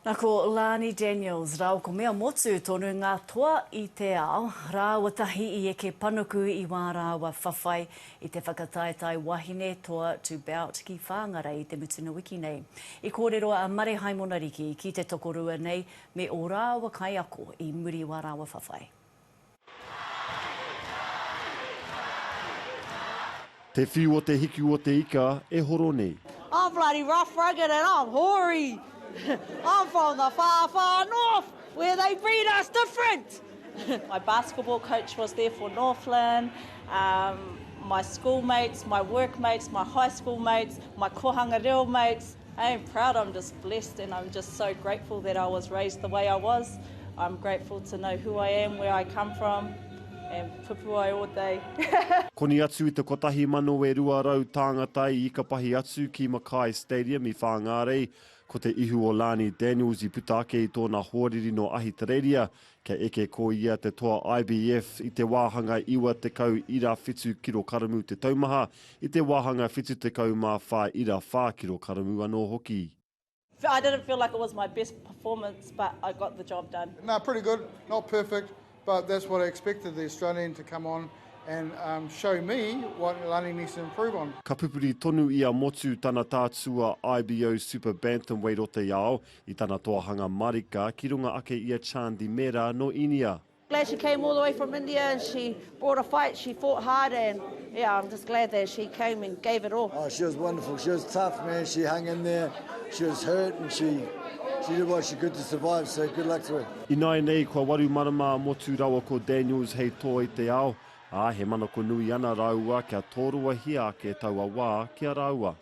Na ko Lani Daniels rao ko Mea Motu tonu nga toa i te ao rawa tahi i eke panuku i wa rawa whawhai i te whakataetae wahine toa to bout ki Whangarei i te mutunga wiki nei. I korero a Mare Haimona Riki ki te tokorua nei me o rawa kaiako i muri wa rawa whawhai. Te whiu o te hiku o te ika e horo nei. I'm bloody rough rugged and I'm hoary I'm from the far far north where they breed us different My basketball coach was there for Northland umm My school mates, my work mates, my high school mates, my kohanga reo mates. I am proud, I'm just blessed and I'm just so grateful that I was raised the way I was. I'm grateful to know who I am, where I come from and pupu ai o tei. Koni atu i te kotahi mano e rua rau tāngata i ikapahi atu ki Mackay Stadium i Whāngārei, ko te ihu o Lani Daniels i puta ake i tōna hoariri nō Ahitereiria Kei eke ko ia te toa IBF i te wāhanga 90 ira whitu kirokaramu te taumaha, i te wāhanga 74 ira whā kirokaramu anō hoki. I didn't feel like it was my best performance but I got the job done. No, pretty good, not perfect but that's what I expected the Australian to come on and show me what Lani needs to improve on. Ka pupuri tonu i a Motu tana tātua IBO Super Bantamweight o te ao, I tana toahanga marika, ki runga ake i a Chandi Mehra, no Inia. Glad she came all the way from India and she brought a fight, she fought hard and yeah I'm just glad that she came and gave it all. Oh she was wonderful, she was tough man, she hung in there, she was hurt and she she did what she could to survive so good luck to her. Ināianei kua waru marama a Motu rawa ko Daniels hei toa i te ao, ā, he manako nui ana rāua kia tōruahia ake taua wā ki a rāua.